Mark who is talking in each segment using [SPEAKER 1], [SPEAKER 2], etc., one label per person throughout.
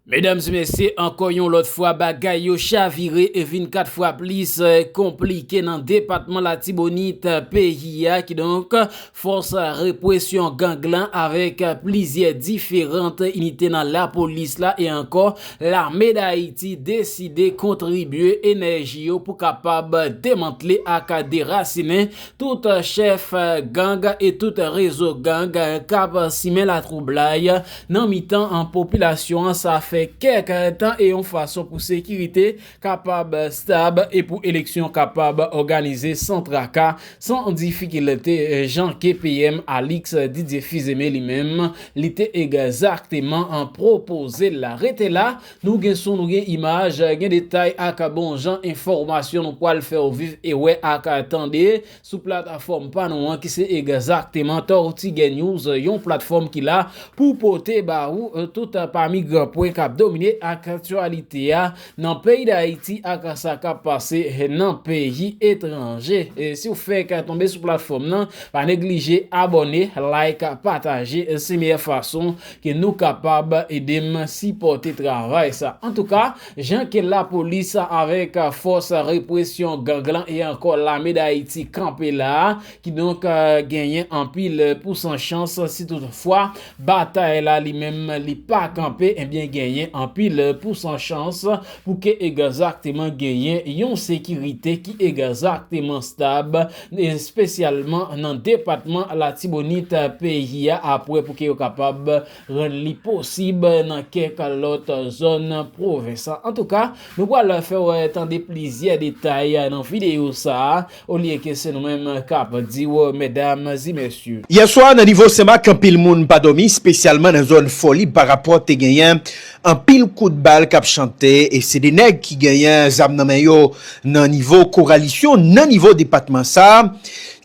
[SPEAKER 1] Medams mesye ankò yon lòt fwa bagay yo chavire e vin 4 fwa plis konplike nan depatman latibonit peyi a kidonk fòs repwesyon gang lan avèk plizyè diferant inite nan lapolis la e ankò lame dayiti deside kontribye enèji yo pou kapab demantle ak derasinen tout chèf gang e tout rezo gang kap simen latwoublay nan mitan an popilasyon an sa fè kèk tan e yon fason pou sekirite kapab stab e pou eleksyon kapab òganize san traka, san difikilte jan ke PM Alix Didier Fils-Aimé li menm li te egzakteman pwopoze l la. Rete la, nou gen son, nou gen imaj, gen detay ak bon jan enfòmasyon nou pwal fè w viv e wè ak tande Sou platafòm pa nou an ki se egzakteman Tortiguè News, yon platfòm ki la pou pote ba ou tout pami gran pwen k ap domine aktyalite a nan peyi Dayiti ak sa k ap pase nan peyi etranje. Si w fèk tonbe sou platfòm nan, pa neglije abòne, like, pataje, se meyè fason ke nou kapab ede m sipòte travay sa. Antouka, Jan ke lapolis avèk fòs represyon gang lan e ankò lame Dayiti kanpe la, kidonk genyen anpil pousan chans si tout fwa batay la li menm li pa kanpe ebyen genyen anpil pousan chans pou ke egzakteman genyen yon sekirite ki egzakteman stab espesyalman nan depatman Latibonit peyi a apre pou ke yo kapab rann li posib nan kèk lòt zòn pwovens. Antouka, nou pral fè w tande plizyè detay nan videyo sa a, olye ke se nou menm k ap di w medam e mesye. Yè swa nan nivo
[SPEAKER 2] Senmak anpil moun pa dòmi spesyalman nan zòn Fòlib pa rapò te genyen anpil kout bal k ap chante e se 2 nèg ki genyen zam nan men yo nan nivo Koralisyon nan nivo depatman sa a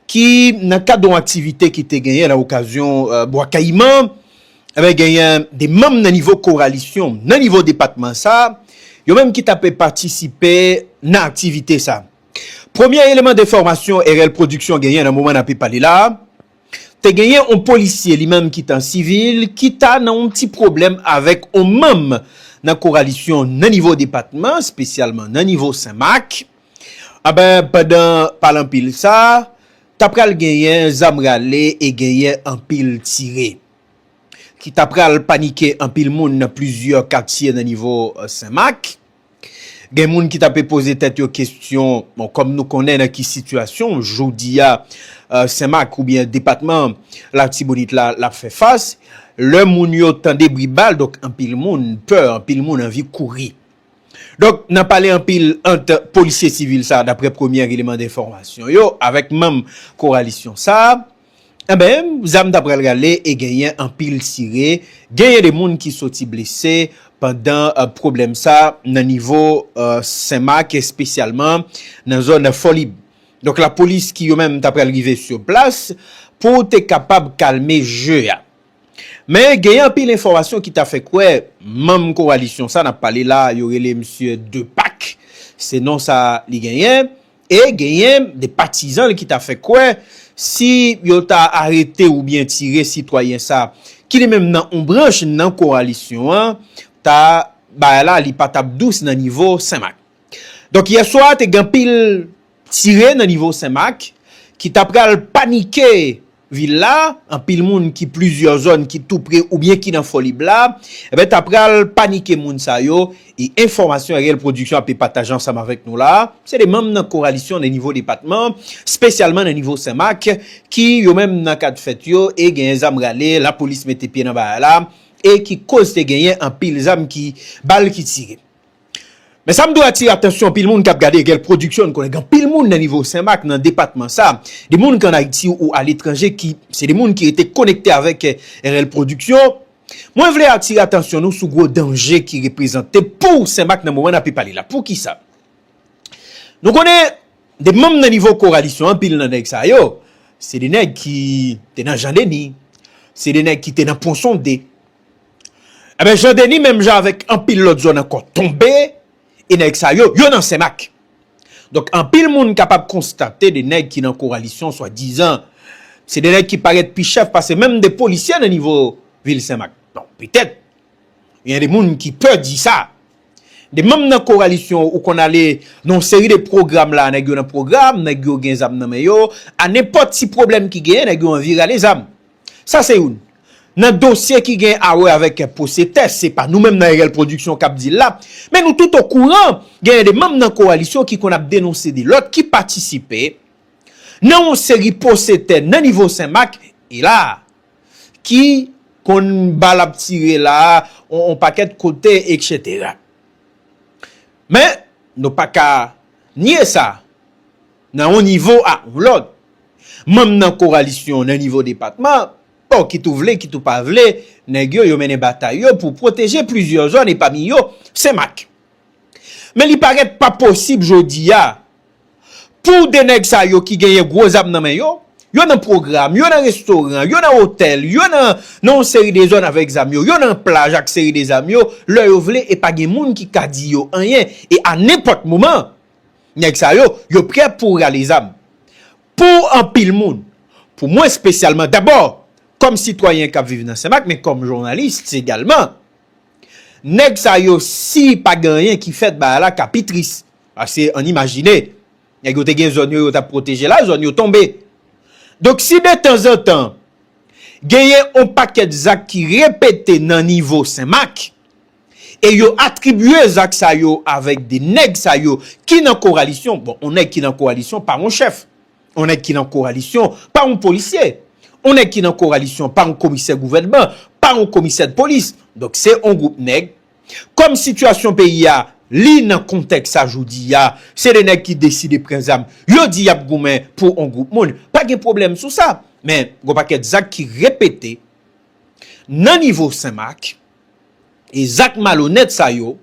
[SPEAKER 2] ki nan kad yon aktivite ki te genyen nan okazyon Bwa Kayiman, enben genyen 2 manm nan nivo koralisyon nan nivo depatman sa, yo menm ki ta pe patisipe nan aktivite sa. Premye eleman de fòmasyon RL Production genyen nan moman n ape pale la, te genyen yon polisye li menm ki t an sivil ki ta nan yon ti pwoblèm avèk yon manm nan koralisyon nan nivo depatman, spesyalman nan nivo Senmak, Anben, pandan pale anpil sa a, t ap pral genyen zam rale e genyen anpil tire, ki t ap pral panike anpil moun nan plizyè katye nan nivo Senmak. Gen moun ki t ape poze tèt yo kesyon, bon, kòm nou konnen nan ki sitiyasyon jodi a Senmak oubyen depatman Latibonit la l ap fè fas, lè moun yo tande bri bal, donk anpil moun pè, anpil moun anvi kouri. Donk nan pale anpil ant polisye sivil sa daprè premyè eleman denfòmasyon yo avèk manm koralisyon sa enben zam ta pral rale e genyen anpil tire genyen de moun ki soti blese pandan pwoblèm sa nan nivo senmak espesyalman nan zòn fòlib donk lapolis ki yo menm ta pral rive sou plas pou te kapab kalme je a. Men genyen anpil enfòmasyon ki ta fè kwè manm kowalisyon sa n ap pale la yo rele misye Depak, se non sa li genyen, e genyen de patizan l ki ta fè kwè si yo ta arete oubyen tire sitwayen sa ki li menm nan on branch nan kowalisyon an ta bagay la li pa t ap dous nan nivo Senmak. Donk yè swa te gen anpil tire nan nivo Senmak ki ta pral panike. Vil la, anpil moun ki plizyè zòn ki tou pre oubyen ki nan Fòlib la, enben ta pral panike moun sa yo, e enfòmasyon Ariel Production ape pataje ansanm avèk nou la, se de manm nan Koralisyon nan nivo depatman, spesyalman nan nivo Senmak, ki yo menm nan kad fèt yo e genyen zam rale, lapolis mete pye nan bagay la, e ki koz te genyen anpil zam ki, bal ki tire. Men sa m dwe atire atansyon anpil moun k ap gade Egel Production, m konnen gen anpil moun nan nivo Senmak, nan depatman sa, de moun ki ann Ayiti ou aletranje ki se de moun ki rete konekte avèk Egel Production. Mwen vle atire atansyon nou sou gwo danje ki reprezante pou Senmak nan moman n ape pale la. Poukisa? Nou konnen de manm nan nivo Koralisyon an, anpil nan nèg sa yo, se de nèg ki te nan Jan Deni, se de nèg ki te nan Ponsonde, Enben Jean Denis menm jan avèk anpil lòt zòn ankò tonbe e nèg sa yo, yo nan Senmak. Donk anpil moun kapab konstate 2 nèg ki nan koralisyon swadizan se 2 nèg ki parèt pi chèf pase menm 2 polisye nan nivo vil Senmak. Bon, petèt gen yon 2 moun ki pè di sa. 2 manm nan koralisyon ou konn ale nan yon seri de pwogram la nèg yo nan pwogram, nèg yo gen zam nan men yo, a nenpòt ti pwoblèm ki genyen nèg yo anvi rale zam. Sa se youn nan dosye ki gen awè avèk pwose tè, se pa nou menm nan RL Production kap di l la, men nou tout okouran genyen de manm nan kowalisyon ki konn ap denonse de lòt ki patisipe nan yon seri pwose tè nan nivo Senmak e la a, ki konn bal ap tire la a yon pakèt kote eksetera. Men, nou pa ka nye sa. Nan yon nivo ak yon lòt, manm nan kowalisyon nan nivo depatman, bon kit ou vle kit ou pa vle, nèg yo yo mennen batay yo pou pwoteje plizyè zòn e pami yo Senmak. Men li parèt pa posib jodi a pou 2 nèg sa yo ki genyen gwo zam nan men yo, yo nan pwogram, yo nan restoran, yo nan otèl, yo nan yon seri de zòn avèk zam yo, yo nan plaj ak seri de zam yo, lè yo vle e pa gen moun ki ka di yo anyen e a nenpòt moman. Nèg sa yo, yo prè pou rale zam. Pou anpil moun, pou mwen spesyalman, dabò, kòm sitwayen k ap viv nan Senmak, men kòm jounalis egalman, nèg sa yo si pa gen anyen ki fèt bagay la ka pi tris. Pase ann imajine, nèg yo te gen zòn yo, yo t ap pwoteje la, zòn yo tonbe. Donk si detanzantan genyen yon pakèt zak ki repete nan nivo Senmak, e yo atribye zak sa yo avèk de nèg sa yo ki nan koralisyon, bon on nèg ki nan koralisyon pa on chèf, on nèg ki nan koralisyon pa on polisye, on nèg ki nan koralisyon pa on komisè gouvènman, pa on komisè dpolis, donk se on gwoup nèg, kòm sitiyasyon peyi a li nan kontèks sa jodi a, se de nèg ki deside pran zam, yo di y ap goumen pou on gwoup moun, pa gen pwoblèm sou sa, men gon pakèt zak ki repete nan nivo Senmak, E zak malonèt sa yo,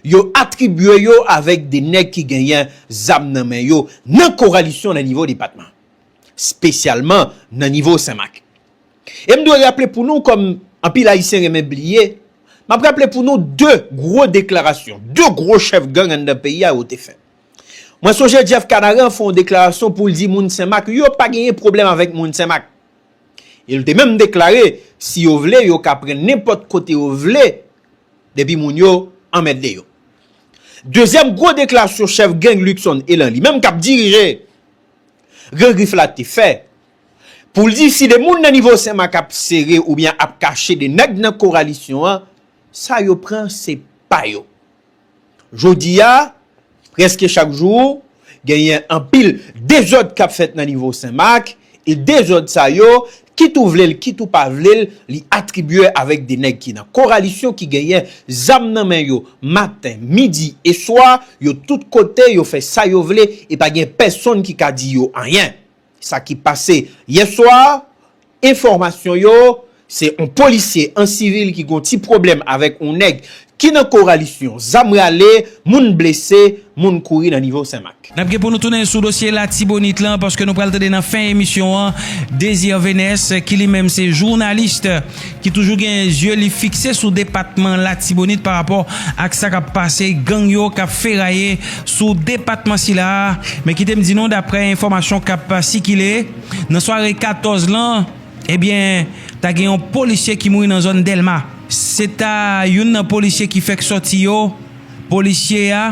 [SPEAKER 2] yo atribye yo avèk de nèg ki genyen zam nan men yo nan koralisyon nan nivo depatman. Spesyalman nan nivo Senmak. E m dwe raple pou nou kòm anpil Ayisyen renmen bliye, m ap raple pou nou 2 gwo deklarasyon, 2 gwo chèf gang anndan peyi a yo te fè. Mwen sonje Jeff Canaran fè yon deklarasyon pou l di moun Senmak yo pa genyen pwoblèm avèk moun Senmak. E l te menm deklare si yo vle yo ka pran nenpòt kote yo vle depi moun yo anmède yo. Dezyèm gwo deklarasyon chèf gang Luckson Elan li menm k ap dirije Gran Grif la te fè pou l di si 2 moun nan nivo Senmak ap sere oubyen ap kache 2 nèg nan kowalisyon an sa yo pran se pa yo. Jodi a, prèske chak jou, genyen anpil dezòd k ap fèt nan nivo Senmak, e dezòd sa yo, kit ou vle l, kit ou pa vle l, li atribye avèk de nèg ki nan Koralisyon ki genyen zam nan men yo maten, midi e swa, yo tout kote, yo fè sa yo vle, e pa gen pèsonn ki ka di yo anyen. Sa ki pase yè swa, enfòmasyon yo, se on polisye an sivil ki gon ti pwoblèm avèk on nèg ki nan koralisyon, zam rale, moun blese, moun kouri nan nivo Senmak. N ap gen pou nou tounen sou
[SPEAKER 3] dosye Latibonit lan paske nou pral tande nan fen emisyon an Désir Vénès ki li menm se journaliste. ki toujou gen zye li fikse sou depatman Latibonit pa rapò ak sa kap pase gang yo kap feraye sou depatman sila a, men kite m di nou daprè enfòmasyon kap sikile nan sware 14 lan ebyen ta gen yon polisye ki mouri nan zòn Dèlma se ta youn nan polisye ki fèk sòti yo, polisye a.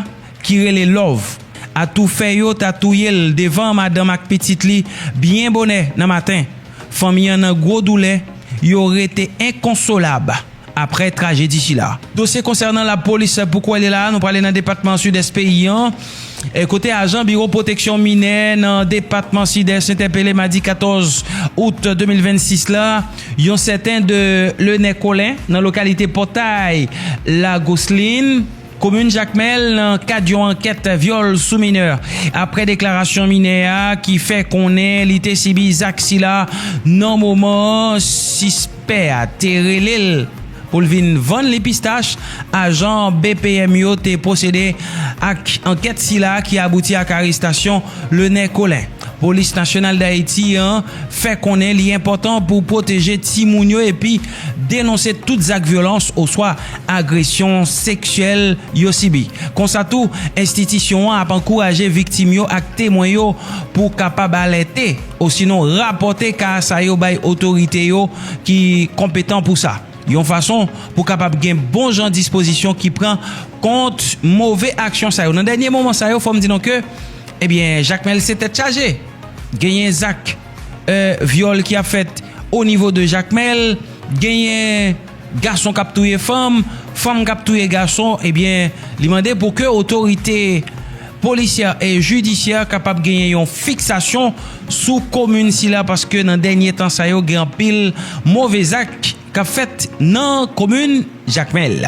[SPEAKER 3] ki rele Love, atoufè yo ta touye l devan madanm ak pitit li byen bonè nan maten. Fanmi an nan gwo doulè, yo rete enkonsolab aprè trajedi sila. Dosye konsènan lapolis pou kwè li la a, nou prale nan depatman Sidès peyi an, kote ajan biwo pwoteksyon minè nan depatman Sidès entèpele madi 14 out 2026 la, yon sèten de Lenè Colin nan lokalite Pòtay Lagoslin. Komin Jakmèl nan kad yon ankèt vyòl sou minè aprè deklarasyon minè a ki fè konnen li te sibi zak sila nan moman sispè a te rele l pou l vin vann li pistach, ajan bpm yo te pwosede ak ankèt sila ki abouti ak arestasyon Lenè Colin. Polis Nasyonal Dayiti an fè konnen li enpòtan pou pwoteje timoun yo epi denonse tout zak vyolans oswa agresyon seksyèl yo sibi. Konsa tou, enstitisyon an ap ankouraje viktim yo ak temwen yo pou kapab alète osinon rapòte ka sa yo bay otorite yo ki konpetan pou sa, yon fason pou kapab gen bon jan dispozisyon ki pran kont move aksyon sa yo. Nan dènye moman sa yo, fò m di nou ke. ebyen jakmèl se tèt chaje genyen zak vyòl ki ap fèt o nivo de jakmèl genyen gason kap touye fanm fanm kap touye gason ebyen li mande pou ke otorite polisyè e jidisyè kapab genyen yon fiksasyon sou komin sila paske nan dènye tan sa yo gen anpil move zak kap fèt nan komin jakmèl.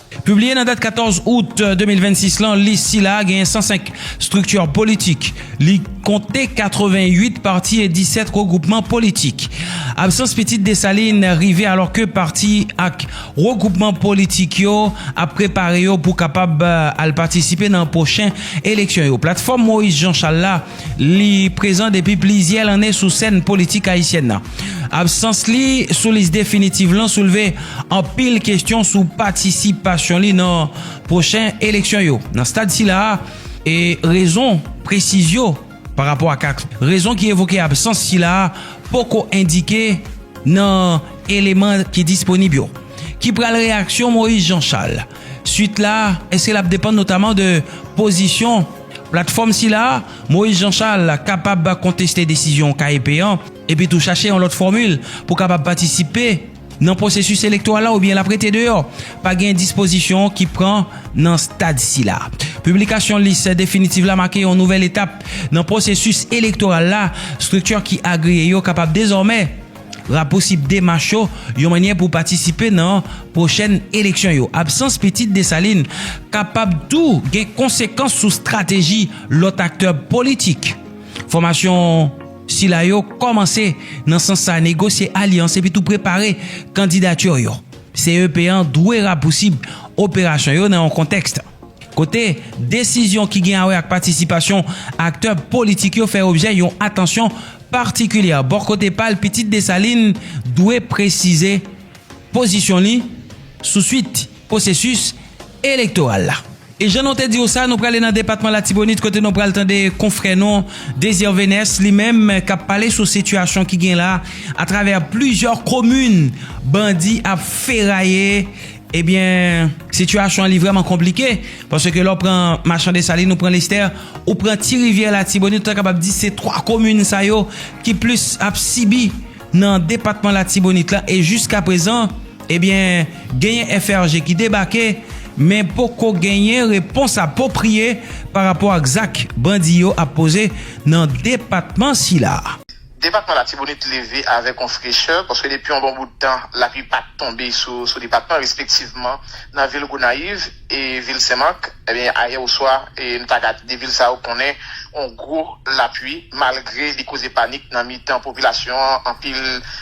[SPEAKER 3] Pibliye nan dat 14 out 2026 lan, lis sila a genyen 105 estrikti politik. Li konte 88 pati e 17 regwoupman politik. Absans pitit Desalin rive alòke pati ak regwoupman politik yo ap prepare yo pou kapab al patisipe nan pwochen eleksyon yo. Platfòm Moise Jean Charles la Li prezan depi plizyè lanne sou sèn politik ayisyèn nan. Absans li sou lis definitiv lan soulve anpil kestyon sou patisipasyon li nan pwochen eleksyon yo. Nan stad sila a, rezon presiz yo pa rapò ak rezon ki evoke absans sila a poko endike nan eleman ki disponib yo. Ki pral reyaksyon Moïse Jean Charles? Suit la, èske l ap depann notaman de pozisyon platfòm sila a? Moïse Jean Charles kapab konteste desizyon KEP an epi tou chache yon lòt fòmil pou kapab patisipe nan pwosesis elektoral la oubyen l ap rete deyò? Pa gen dispozisyon ki pran nan stad sila. Piblikasyon lis definitiv la make yon nouvèl etap nan pwosesis elektoral la, estrikti ki agriye yo kapab dezòmè. Rapousib demach yo yon mannyè pou patisipe nan pwochèn eleksyon yo. Absans Pitit Desalin kapab tou gen konsekans sou strateji lòt aktè politik. Fòmasyon sila yo kòmanse nan sans sa negosye alyans epi tou prepare kandidati yo. CEP an dwe rapousib operasyon yo nan yon kontèks. kote desizyon ki gen awè ak patisipasyon aktè politik yo fè objè yon atansyon patikilyè. Bò kote pa l, Pitit Desalin dwe presize pozisyon li sou suit pwosesis elektoral la. E jan nou te di w sa, nou prale nan depatman Latibonit kote nou pral tande konfrè nou Désir Vénès, li menm k ap pale sou sitiyasyon ki gen la atravè plizyè komin bandi ap feraye Ebyen sitiyasyon li vrèman konplike paske lè w pran machan Desalin ou pran Lestè ou pran ti rivyè latibonit ou ta kapab di se 3 komin sa yo ki plis ap sibi nan depatman latibonit la e jiska prezan ebyen genyen FRG ki debake men poko genyen repons apopriye pa rapò ak zak bandi yo ap poze nan depatman sila. Depatman
[SPEAKER 4] Latibonit leve avèk yon frechè paske depi yon bon bout tan lapli pa t tonbe sou depatman respektivman nan vil Gonayiv e vil Senmak ebyen ayè oswa nou ta gad 2 vil sa yo konnen yon gwo lapli malgre li koze panik nan mitan popilasyon an anpil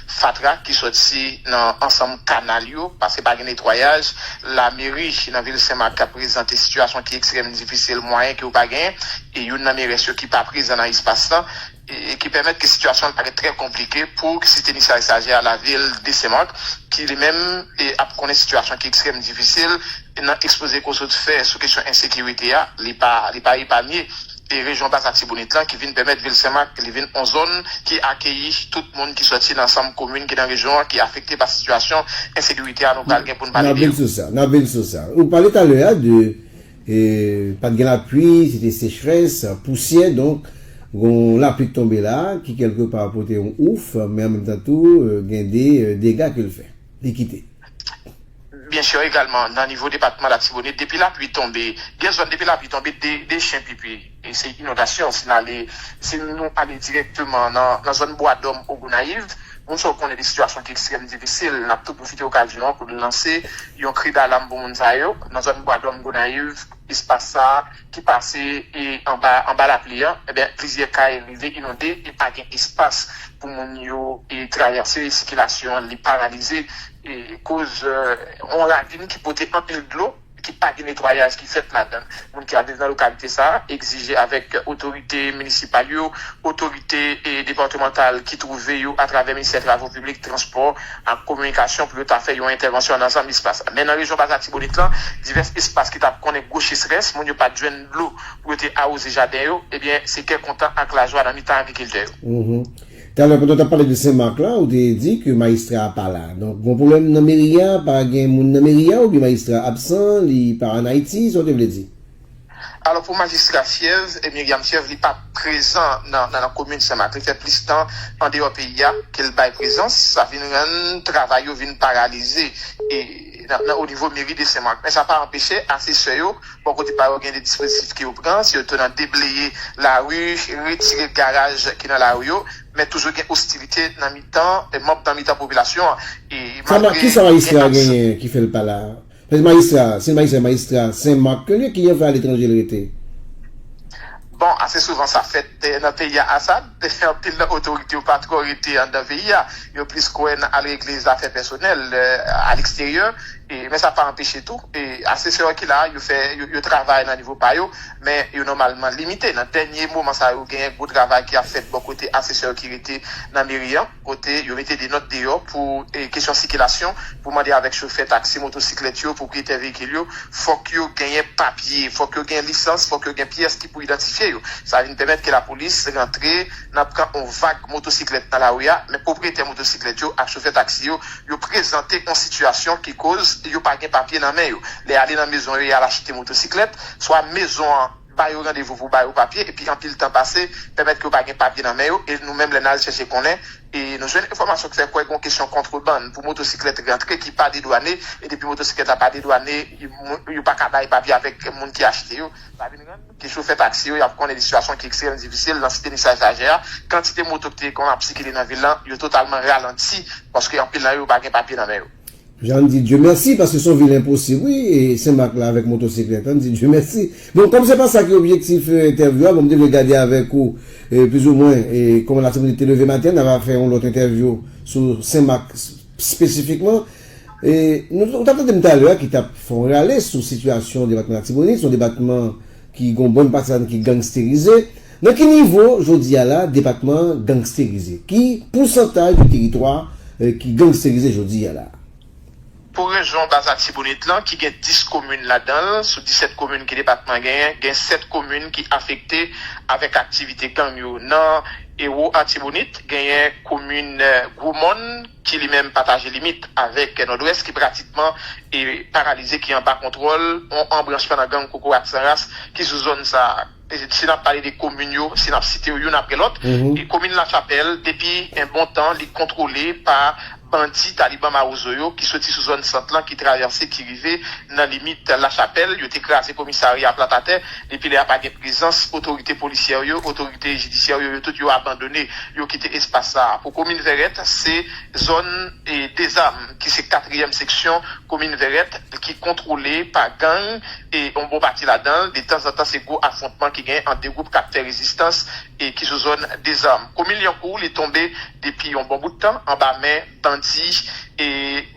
[SPEAKER 4] fatra ki sòti nan ansanm kanal yo pase pa gen netwayaj lameri nan vil Senmak prezante sitiyasyon ki ekstrèm difisil mwayen ke yo pa genyen e youn nan merès yo ki pa prezan nan espas lan. e ki pèmèt ke sitiyasyon an parèt trè konplike pou ki site Misay Sajè a lavil Desemant ki li menm ap konnen sitiyasyon ki ekstrèm difisil nan ekspoze Kosot fè sou kesyon ensekirite a li pa li pa epanye e rejyon Bas Atibonit lan ki vin pèmèt vil Senmak li vin on zòn ki akeyi tout moun ki sòti nan ansanm komin ki nan rejyon an ki afekte pa sitiyasyon ensekirite a nou pral gen poun pale de yo. Nap vin sou sa, nap
[SPEAKER 5] vin sou sa. Ou pale talè a de Pa t gen lapui, se te sechrès, pousyè, donk gon lapli k tonbe la ki kèlke pa pote yon ouf men an menm tan tou gen de dega ke l fè, li kite.
[SPEAKER 4] Byen sè egalman nan nivo depatman Latibonit depi lapui tonbe gen zòn depi lapui tonbe de chen pipi. E se inondasyon si n ale, si nou ale dirèkteman nan zòn Bwadòm ou Gonayiv, moun sa yo konnen de sitiyasyon ki ekstrèm difisil. N ap tou pwofite okazyon an pou n lanse yon kri dalam pou moun sa yo. Nan zòn Bwadòm, Gonayiv, espas sa a ki pase anba lapli an, enben plizyè kay rive inonde e pa gen espas pou moun yo travèse, sikilasyon an li paralize koz yon ravin ki pote anpil dlo. ki pa gen netwayaj ki fèt ladan l. Moun ki ap viv nan lokalite sa a egzije avèk otorite minisipal yo, otorite depatmantal ki twouve yo atravè Ministè Travo Piblik, Transpò ak Kominikasyon pou yo ta fè yon entèvansyon nan ansanm espas. Men nan rejyon Bas Latibonit lan, divès espas ki ta konnen gwo chesrès, moun yo pa t jwenn dlo pou yo te awoze jaden yo, ebyen se kè kontan ak lajwa nan mitan agrikiltè yo. Talè
[SPEAKER 5] pandan w tap pale de sen mak la ou te di ke mayistra a pa la donk gon pwoblèm nan meri a pa gen moun nan meri a oubyen mayistra a absan li pa an ayiti sa w te vle di? Alò pou
[SPEAKER 4] majistra fyèv Myriam fyèv li pa prezan nan nan komin sen mak li fè plis tan andeyò peyi a ke l bay prezans sa vin rann travay yo vin paralize nan onivo meri de sen mak men sa pa anpeche asesè yo Bò kote pa yo gen de dispozitif ke yo pran, se yo tou nan debleye lari, retire garaj ki nan lari yo, men toujou gen ostilite nan mitan manb nan mitan popilasyon an e Sa ma, malgre kisa
[SPEAKER 5] majistra gen a absan. genyen ki fè l pa la a? Paske majistra a, si l majistra, majistra Sen Mak ke l ye, ki jan l fè al etranje l rete?
[SPEAKER 4] Bon, ase souvan sa fèt nan peyi a, Asad. Dayè anpil nan otorite yo pa twò rete anndan peyi a, yo plis kwè nan al regle zafè pèsonèl a leksteryè, men sa pa anpeche tou asesè yo ki la yo fè yo travay nan nivo pa yo, men yo nòmalman limite. Nan dènye moman sa yo genyen gwo travay ki ap fèt bò kote asesè yo ki rete nan meri an. kote yo mete de nòt deyò pou kesyon sikilasyon pou mande avèk chofè taksi, motosiklèt yo, pwopriyetè veyikil yo, fòk yo genyen papye, fòk yo gen lisans, fòk yo gen pyès ki pou idantifye yo. Sa vin pèmèt ke lapolis rantre nan pran on vag motosiklèt nan lari a, men pwopriyetè motosiklèt yo ak chofè taksi yo, yo prezante on sitiyasyon ki koz yo pa gen papye nan men yo. Lè y ale nan mezon yo y al achte motosiklèt, swa mezon an. Ba yo randevou pou ba yo papye epi anpil tan pase, pèmèt ke yo pa gen papye nan men yo e nou menm lè n al chèche konnen e nou jwenn enfòmasyon k fè kwè gon kesyon kontrebann pou motosiklèt rantre ki pa dedwane e depi motosiklèt la pa dedwane yo pa ka bay papye avèk moun ki achte yo. Sa vin rann ke chofè taksi yo y ap konnen de sitiyasyon ki ekstrèmman difisil nan Site Nisaj Lajè a, kantite moto ki te konn ap sikile nan vil lan yo totalman ralanti paske anpil nan yo pa gen papye nan men yo. Jan n di Dye
[SPEAKER 5] mèsi paske son vil enposib wi Senmak la avèk motosiklèt an n di Dye mèsi bon kòm se pa sa ki objektif entèvyou a bon m te vle gade avèk ou plizoumwen kòman Latibonit te leve maten n ava fè yon lòt entèvyou sou Senmak spesifikman nou ou t ap tande m talè a ki t ap fè yon rale sou sitiyasyon depatman Latibonit son depatman Ki gon bon pati ladan ki gangsterize. Nan ki nivo jodi a la depatman an gangsterize? Ki pousantaj de teritwa ki gangsterize jodi a la? Pou
[SPEAKER 4] rejyon Bas Atibonit lan ki gen 10 komin ladan l, sou 17 komin ke depatman an genyen, gen 7 komin ki afekte avèk aktivite gang yo. Nan Ewo Atibonit, genyen komin Gwo Mòn ki li menm pataje limit avèk Nòdwès ki pratikman e paralize ki anba kontwòl yon anbranchman nan gang kokorat san ras ki sou zòn sa a. Si n ap pale de komin yo, si n ap site yo youn apre lòt, komin Lachapèl depi yon bon tan li kontwole pa bandi taliban mawozo yo ki soti sou zòn sant lan ki travèse ki rive nan limit Lachapèl. Yo te kraze komisarya a plat atè. Depi lè a pa gen prezans otorite polisyè yo, otorite jidisyè yo, yo tout yo abandone, yo kite espas sa a. Pou komin Vèrèt, se. Zòn Dezam ki se katriyèm seksyon komin Vèrèt ki kontwole pa gang yon bon pati ladan l, detanzantan se gwo afwontman ki gen ant 2 gwoup k ap fè rezistans ki sou zòn Dezam. Komin Lyankou li tonbe depi yon bon bout tan anba men bandi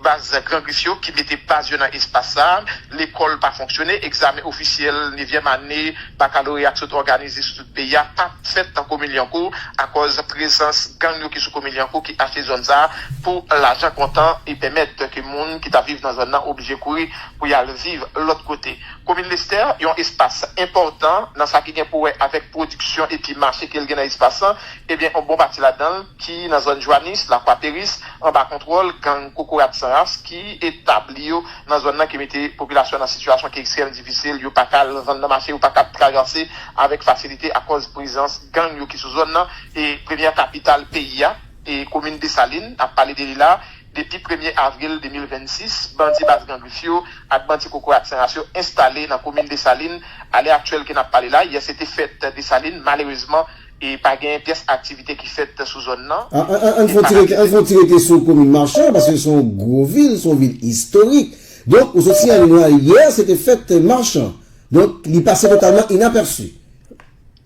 [SPEAKER 4] baz Gran Grif yo ki mete baz yo nan espas sa. Lekòl pa fonksyone, egzamen ofisyèl nevyèm ane bakaloreya t sot òganize sou. Peyi a pa fèt nan komin Lyankou akòz prezans gang yo ki sou komin Lyankou ki achte zòn sa a pou lajan kontan e pèmèt ke moun ki t ap viv nan zòn nan oblije kouri pou y al viv lòt kote. Komin Lestè yon espas enpòtan nan sa ki gen pou wè avèk pwodiksyon epi mache ke l gen nan espas lan ebyen yon bon pati ladan l ki nan zòn Jwanis, Lakwaperis anba kontwòl gang Kokorat San Ras ki etabli yo nan zòn nan ki mete popilasyon an nan sitiyasyon ki ekstrèm difisil, yo paka al nan zòn nan mache yo paka ap traganse avèk fasilite akòz prezans gang yo ki sou zòn nan e premyè kapital peyi a e komin Desalin nap pale de li la depi premye avril 2026 bandi baz gang rif yo ak bandi kokorat san ras yo enstale nan komin Desalin alè aktyèl ke nap pale la yè se te fèt Desalin malerezman E pa genyen pyès aktivite ki fèt sou zòn nan. An n
[SPEAKER 5] fon ti rete sou komin Marchand paske se yon gwo vil, se yon vil istorik. Donk ou sot siyale nou ayè se te fèt Marchand. Donk li pase totalman inapèsi.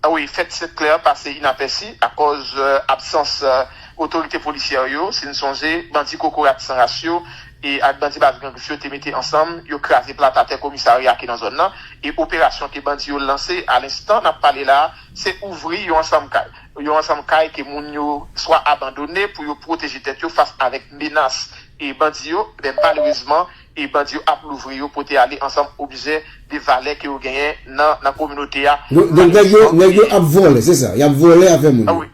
[SPEAKER 5] Wi,
[SPEAKER 4] fèt Sent Klè an pase inapèsi akòz absans otorite polisyè yo. Si n sonje, bandi kokorat san ras yo ak bandi Baz Grangriff yo te mete ansanm, yo kraze plat atè komisarya ki nan zòn nan. E operasyon ke bandi yo lanse alenstan n ap pale la a, Se ouvri yon ansanm kay. Yon ansanm kay ke moun yo swa abandone pou yo pwoteje tèt yo fas avèk menas e bandi yo, enben malerezman e bandi yo ap louvri yo pote ale ansanm objè de valè ke yo genyen nan nan kominote a. Donk nèg yo nèg
[SPEAKER 5] yo ap vòlè se sa? Yap vòlè afè moun yo?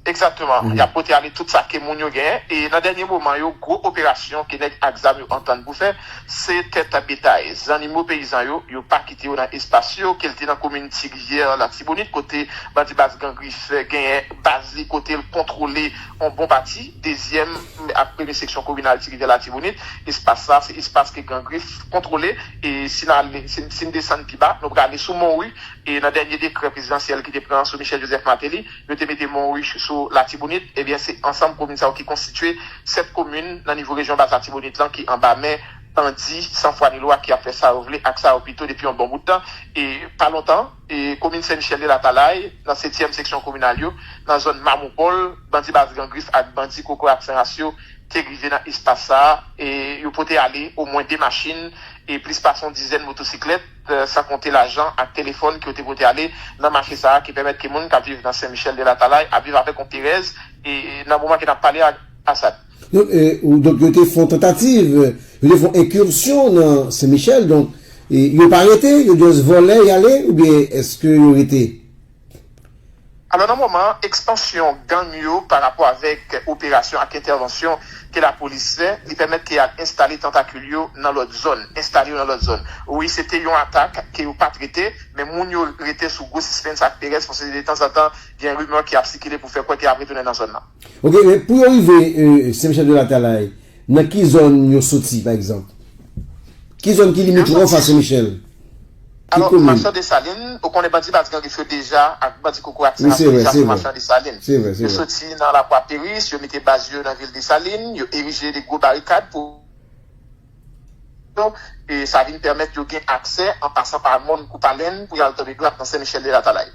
[SPEAKER 4] Egzakteman, y ap pote ale tout sa ke moun yo gen e nan dènye moman yo, gwo operasyon ke nèg ak zam yo antann pou fè, se tèt betay, zannimo peyizan yo, yo pa kite yo nan espas yo, ke l te nan komin Ti Rivyè, Latibonit, kote bandi Baz Gan Grif genyen baz li, kote l kontwole on bon pati dezyèm ak premye seksyon kominal Ti Rivyè Latibonit. Espas sa a, se espas ke Gan Grif kontwole e si n ale, si n desann pi ba, nou prale sou Monwi e nan dènye dekrè prezidansyèl ki te pran sou Michel Joseph Martelly, Yo te mete Monruich sou Latibonit. Ebyen, se ansanm komin sa yo ki konstitye 7 komin nan nivo rejyon Bas Latibonit lan ki anba men bandi san fwa ni lwa ki ap fè sa yo vle ak sa yo pito depi yon bon bout tan. E, pa lontan, komin Sen Michèl de Latalay, nan setyèm seksyon kominal yo, nan zòn Mamoupol, bandi Baz Gran Grif ak bandi Kokorat Sen Ras yo te rive nan espas sa a. E, yo pote ale omwen 2 machin e plis pase yon dizèn motosiklèt. san konte lajan ak telefòn ke yo te pote ale nan mache sa a ki pèmèt ke moun k ap viv nan Sen Michèl de Latalay ap viv avèk yon perèz nan moman ke n ap pale a Asad.
[SPEAKER 5] Donk yo te fè yon tantativ, yo te fè yon enkirsyon nan Sen Michèl donk yo pa rete, yo just vole y ale oubyen eske yo rete?
[SPEAKER 4] Alò nan moman ekspansyon gang yo pa rapò avèk operasyon ak entèvansyon ke lapolis fè, li pèmèt ke al enstale tantakil yo nan lòt zòn, enstale yo nan lòt zòn. Wi se te yon atak ke yo pa trete, men moun yo rete sou gwo sispens ak perèz paske detanzantan gen rimè ki ap sikile pou fè kwè ke y ap retounen nan zòn nan. Ok, men pou yo
[SPEAKER 5] rive Sen Michel de Latalay, nan ki zòn yo soti pa egzanp? Ki zòn ki limitròf a Sen Michel? Alò
[SPEAKER 4] machan Desalin, ou konnen bandi Baz Gangif yo deja ak bandi kokorat sa yo deja sou machan Desalin. Yo soti
[SPEAKER 5] nan Lakwa
[SPEAKER 4] Peris, yo mete baz yo nan vil Desalin, yo erije de gwo barikad pou e sa vin pèmèt yo gen aksè an pasan pa mòn Koupalen pou y al tonbe dwat nan Sen Michèl de Latalay.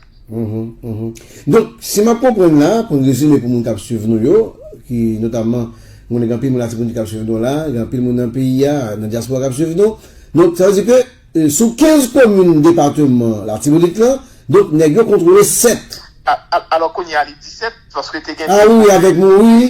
[SPEAKER 5] Donk, si m ap konprann la, pou n rezime pou moun k ap swiv nou yo, ki notamman m konnen gen anpil moun Latibonit k ap swiv nou la, gen anpil moun nan peyi a, nan dyaspora k ap swiv nou, donk sa vle di ke. Sou 15 komin depateman Latibonit lan, donk nèg yo kontwole 7. Alò
[SPEAKER 4] kounye a li 17 paske te gen 2 komin. A wi avèk Monwi.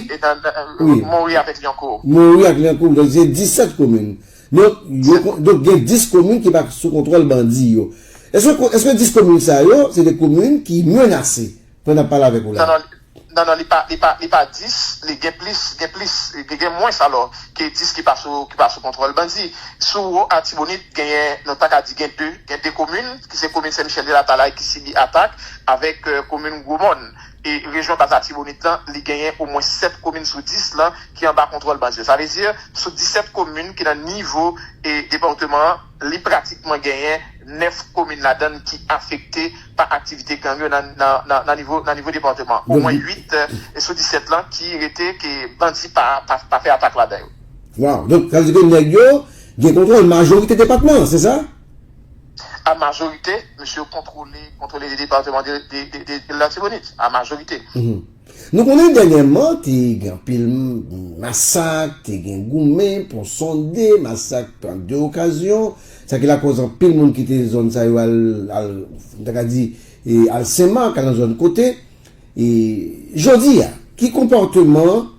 [SPEAKER 4] Monwi avèk Lyankou. Monwi ak
[SPEAKER 5] Lyankou donk se 17 komin. Donk gen 10 komin ki pa sou kontwòl bandi yo. Eske 10 komin sa yo se de komin ki menase Pwen nap pale avek ou la. Nan nan li pa li
[SPEAKER 4] pa li pa 10 li gen plis gen plis li gen mwens alò ke 10 ki pa sou ki pa sou kontwòl bandi sou wo atibonit genyen nou ta ka di gen 2 gen 2 komin ki se komin sen michèl de la talay ki sibi atak avèk komin gwo mòn e rejyon bas atibonit lan li genyen o mwens 7 komin sou 10 lan ki anba kontwòl bandi yo sa vle di sou 17 komin ki nan nivo e depòteman an. Li pratikman genyen 9 komin ladan l ki afekte pa aktivite gang yo nan nivo depatman. Omwen 8 sou 17 lan ki rete ke bandi pa fè atak ladan yo. Waw! Donk sa vle
[SPEAKER 5] di ke nèg yo gen kontwòl majorite depatman an, se sa? A
[SPEAKER 4] majorite, mesye yo kontwole 2 depatman de Latibonit. A majorite. Nou konnen
[SPEAKER 5] dènyèman te gen anpil masak, te gen goumen, pon sonde, masak an 2 okazyon, sa ki lakòz anpil moun kite zòn sa yo al, nou ta ka di, al Sen Mak, al nan zòn kote. Jodi a, ki konpòteman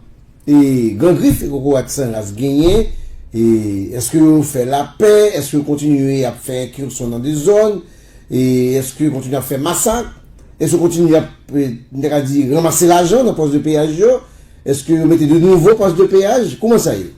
[SPEAKER 5] Gran Grif e Kokorat San Ras genyen? Èske yo fè lapè? Èske yo kontinye ap fè enkirson nan 2 zòn? E eske yo kontinye ap fè masak? Eske yo kontinye ap, m ta ka di, ranmase lajan nan pòs de peyaj yo? Eske yo mete de nouvo pòs de peyaj? Kouman sa ye?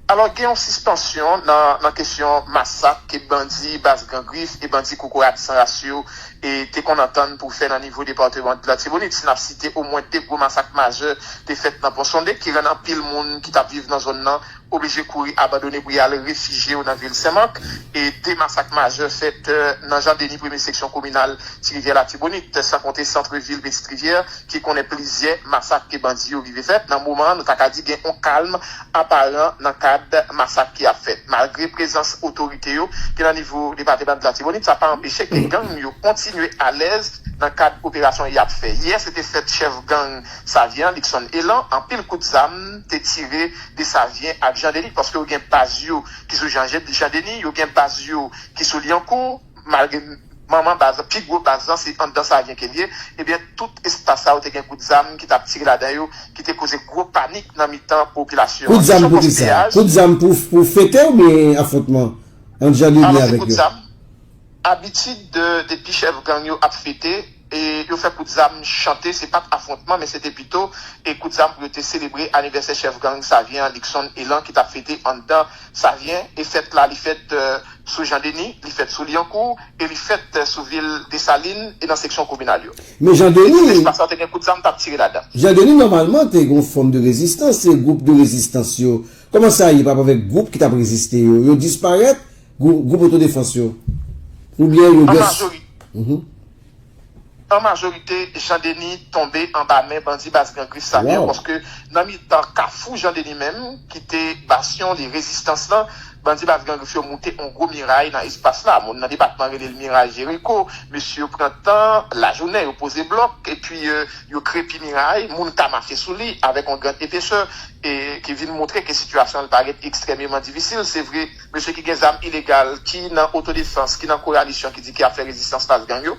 [SPEAKER 4] Alò, gen yon sispansyon nan kesyon masak ke bandi Bas Gran Grif e bandi Kokorat San Ras yo te konn antann pou fè nan nivo depateman Latibonit. Si n ap site omwen de gwo masak majè te fèt nan Ponsonde ki rann anpil moun ki t ap viv nan zòn nan oblije kouri abandone pou y al refijye yo nan vil Senmak e 2 masak majè fèt nan Jan Deni premye seksyon kominal Ti Rivyè Latibonit san konte santre vil Pitit Rivyè ki konnen plizyè masak ke bandi yo rive fèt nan moman an nou ta ka di gen on kalm aparan nan kad masak ki ap fèt malgre prezans otorite yo ki nan nivo depatebant Latibonit sa pa anpeche ke gang yo kontinye alèz nan kad operasyon y ap fè yè se te fèt chèf gang Savyen an Likson Elan anpil kout zam te tire Desavyen ak Jan Deni paske yo gen baz yo ki sou Jan Deni, yo gen baz yo ki sou Lyankou malgre manman baz lan, pi gwo baz lan se anndan Savyen ke l ye, ebyen tout espas sa yo te gen kout zam ki t ap tire ladan yo ki te koze gwo panik nan mitan popilasyon an. Kesyon pòs peyaj. Kout zam pou kisa?
[SPEAKER 5] Kout zam pou fete oubyen afwontman ant Jan Deni avèk yo? Alò se kout zam.
[SPEAKER 4] Abitid depi chèf gang yo ap fete. yo fè kout zam chante se pat afwontman men se te pito kout zam pou yo te selebre anivèsè chèf gang Savyen an Luckson Elan ki tap fete anndan Savyen e fèt la li fèt sou Jean Denis, li fèt sou Lyankou e li fèt sou vil Desalin e nan seksyon kominal yo. Men Jean Denis. Tout
[SPEAKER 5] espas la te gen kout zam tap
[SPEAKER 4] tire ladan. Jean Denis nòmalman
[SPEAKER 5] te gen yon fòm de rezistans se gwoup de rezistans yo. Kòman sa ye pa avèk gwoup ki tap reziste yo? Yo disparèt? Gwoup otodefans yo oubyen yo just.
[SPEAKER 4] An majorite, Jean Denis tonbe anba men bandi baz Gran Grif sa yo paske nan mitan kafou Jean Denis menm ki te basyon de rezistans lan, bandi baz Gran Grif yo moute yon gwo miray nan espas la. Moun nan depatman rele l miray Jeriko. Mesye yo pran tan lajounen, yo poze blòk epi yo krepi miray, moun ka mache sou li avèk yon gran epesè e ki vin montre ke sitiyasyon an li parèt ekstrèmeman difisil. Se vre. mesye ki gen zam ilegal, ki nan otodefans, ki nan koalisyon ki di ki ap fè rezistans fas gang yo,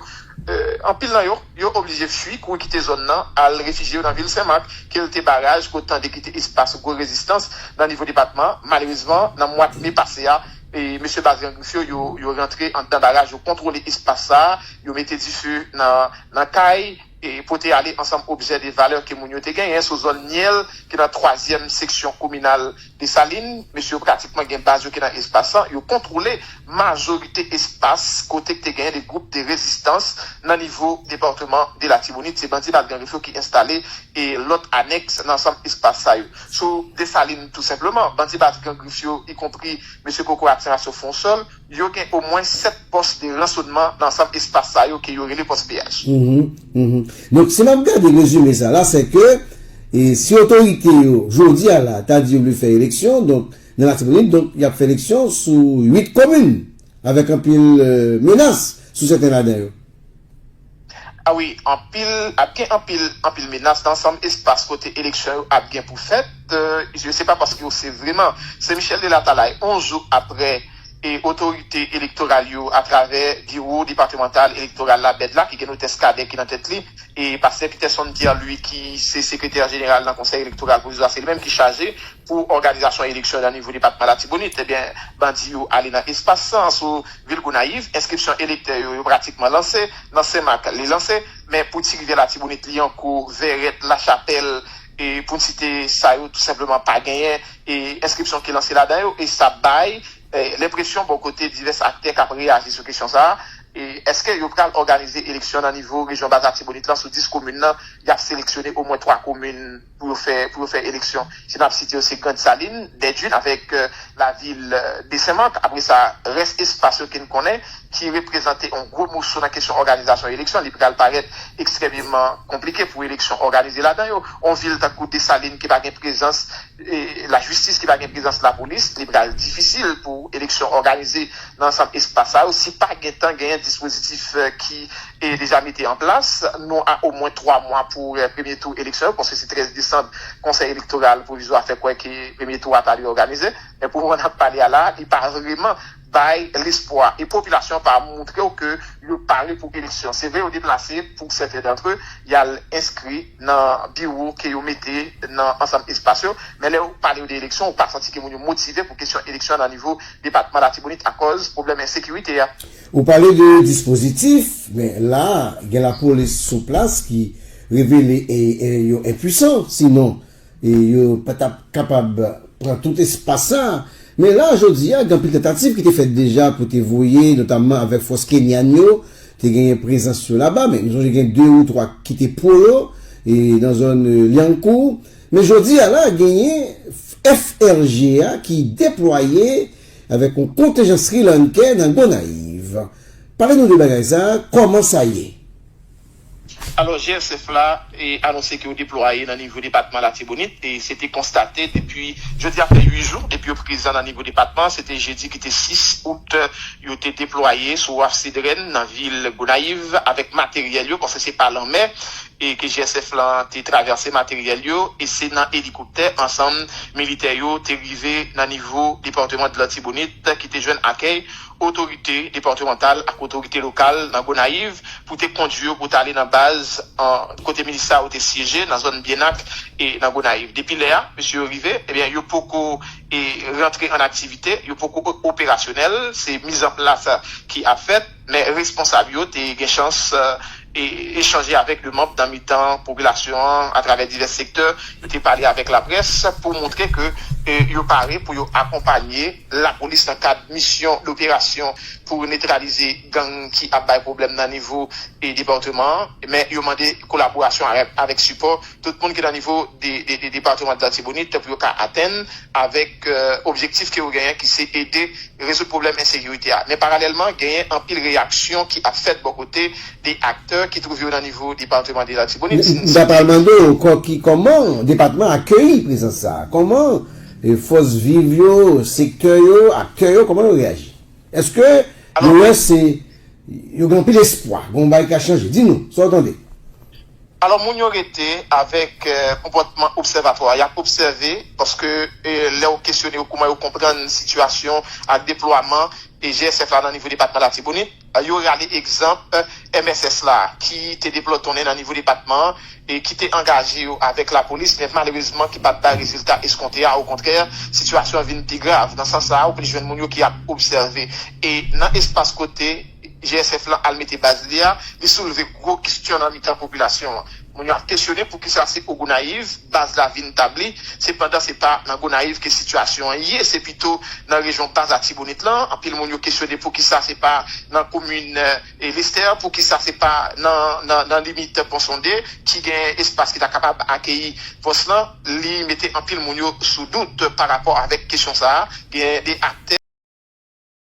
[SPEAKER 4] anpil nan yo, yo oblije fui, kouri kite zòn nan, al refijye yo nan vil Senmak, ke l te baraj, ke w tande ki te espas gwo rezistans nan nivo depatman an. Malerezman, nan mwad me pase a, mesye baz gang Grif yo, yo rantre anndan baraj, yo kontwole espas sa a, yo mete dife nan kay, pote ale ansanm objè de valè ke moun yo te genyen sou zòn Nyèl ki nan twazyèm seksyon kominal Desalin. Mesye yo pratikman gen baz yo ki nan espas lan. Yo kontwole majorite espas kote ki te genyen de gwoup de rezistans nan nivo departeman de Latibonit. Se bandi Mal Gangèf yo ki enstale lòt anèks nan ansanm espas sa yo sou Desalin tou senpleman. Bandi Baz Gangèf yo, ikonpri mesye Koko Atirasyon Fonsòl, Yo gen omwen 7 pòs de ransonman nan ansanm espas sa yo ke yo rele pòs peyaj.
[SPEAKER 5] Donk, si map gade rezime sa la, se ke si otorite yo jodi a la ta di yo vle fè eleksyon, donk nan Latibonit, donk yap fè eleksyon sou 8 komin avèk anpil menas sou sèten ladan yo.
[SPEAKER 4] A wi, anpil, ap gen anpil, anpil menas nan ansanm espas kote eleksyon yo ap gen pou fèt. Je se pa paske yo se vreman. Se Michel de Latalay, 11 jou apre e otorite elektoral yo atravè biwo depatemantal elektoral la, bed la, ki gen notès Cadet ki nan tèt li, e pastè Peterson Pierre Louis ki se sekretè jeneral nan konsèy elektoral pwovizwa, se li menm ki chaje. pou òganizasyon eleksyon nan nivo depatman Latibonit. Ebyen, bandi yo ale nan espas san sou vil Gonayiv. Enskripsyon elektè yo, yo pratikman lanse. Nan Senmak, li lanse. Men pou Ti Rivyè Latibonit, Lyankou, Vèrèt, Lachapèl, pou n site sa yo, tou senpleman pa genyen enskripsyon ki lanse ladan yo. E sa bay lenpresyon bò kote divès aktè k ap reyaji sou kesyon sa a, èske yo pral òganize eleksyon nan nivo rejyon Bas Latibonit lan sou 10 komin nan, y ap seleksyone omwen 3 komin? pou yo fè pou yo fè eleksyon si map site yo se grand saline, dèdwin avèk la vil de senmak apre sa rès espas yo ken konnen ki reprezante yon gwo moso nan kesyon òganizasyon eleksyon li pral parèt ekstrèmeman konplike pou eleksyon òganize ladan yo yon vil tankou desalin ki pa gen prezans la jistis ki pa gen prezans la polis li pral difisil pou eleksyon òganize nan ansanm espas sa yo si pa gentan genyen dispozitif ki. e deja mete an plas, nou a omwen 3 mwa pou premye tou eleksyon yo, paske se 13 desanm konsèy elektoral pwovizwa fè kwè ke premye tou a ta dwe òganize, men pou moman nap pale a la a, li pa vreman bay lespwa, e popilasyon an pa moutre w ke yo pare pou eleksyon, se vre yo deplase pou sèten dantre yal enskri nan biwo ke yo mete nan ansanm espas yo, men lè yo pale yo de eleksyon ou pa santi ke moun yo motive pou kesyon eleksyon nan nivo depatman latibonit akòz pwoblèm ensekirite a. Ou pale de
[SPEAKER 5] dispozitif, men la a gen lapolis sou plas ki revele yo enpuisan, sinon yo pa t ap kapab pran tout espas sa a. Men la a jodi a gen anpil tantativ ki te fèt deja pou te voye, notamman avèk fòs kenyan yo, te genyen prezans yo laba, men nou sonje gen de ou twa ki te pwo yo nan zòn Lyankou. Men jodi a la genyen FRG a ki deplwaye Avèk yon kontenjan Sri Lankè nan Gonayiv. Pale nou de bagay sa, kòman sa ye? Alò
[SPEAKER 4] GSF la anonse ke yo deplwaye nan nivo depatman Latibonit e se te konstate depi jodi a fè 8 jou depi yo prezan nan nivo depatman an. Se te jedi ki te 6 out yo te deplwaye sou waf Sedrèn nan vil Gonayiv avèk materyèl yo paske se pa lanmè e ke GSF lan te travèse materyèl yo e se nan elikoptè ansanm militè yo te rive nan nivo departeman de l'Artibonite ki te jwenn akèy otorite departemantal ak otorite lokal nan Gonayiv pou te kondwi yo pou ta ale nan baz kote milis sa yo te syeje nan zòn Byenak e nan Gonayiv. Depi lè a mesye yo rive ebyen yo poko rantre an aktivite, yo poko operasyonèl, se mizanplas ki ap fèt. Men responsab yo te gen chans echanje avèk 2 manb nan mitan popilasyon an atravè divès sektè. Yo te pale avèk laprès pou montre ke yo pare pou yo akonpanye lapolis nan kad misyon doperasyon pou netralize gang ki ap bay pwoblèm nan nivo departeman an. Men yo mande kolaborasyon avèk sipò. Tout moun ki nan nivo departement latibonit pou yo ka atenn avek objektif ke yo genyen ki se ede rezoud pwoblem ensekirite a. Men paralelman genyen anpil reyaksyon ki ap fet bo kote de aktè ki twouve yo nan nivo departement de latibonit. M ta pral mande w
[SPEAKER 5] koman depatman akeyi prezans sa? Koman fos viv yo, sektè yo, aktè yo koman yo reyaji? Eske yo wè se yo gen anpil espwa, gen yon bagay ki ka chanje? Di nou sa w tande. Alò
[SPEAKER 4] moun yo rete avèk konpòtman obsèvatwa, y ap obsève paske lè ou kesyone yo kouman yo konprann sitiyasyon ak deplwaman GSF la nan nivo depatman Latibonit, yo rale egzanp mss la ki te deplòtonnen nan nivo depatman an e ki te angaje yo avèk lapolis men malerezman ki pa t bay rezilta eskonte a. Okontrè, sitiyasyon an vin pi grav. Nan sans sa a, ou plis jwenn moun yo ki ap obsève e nan espas kote. GSF lan al mete baz li a, li soulve gwo kestyon nan mitan popilasyon an. Moun yo ap kesyone poukisa se o Gonayiv baz la vin tabli, se pandan se pa nan Gonayiv ke sitiyasyon an ye, se pito nan rejyon baz Atibonit lan. Anpil moun yo kesyone poukisa se pa nan komin Lestè, poukisa se pa nan limit Pon Sonde ki gen espas ki ta kapab akeyi pòs lan. Li mete anpil moun yo sou dout pa rapò avèk kesyon sa a. Gen de aktè.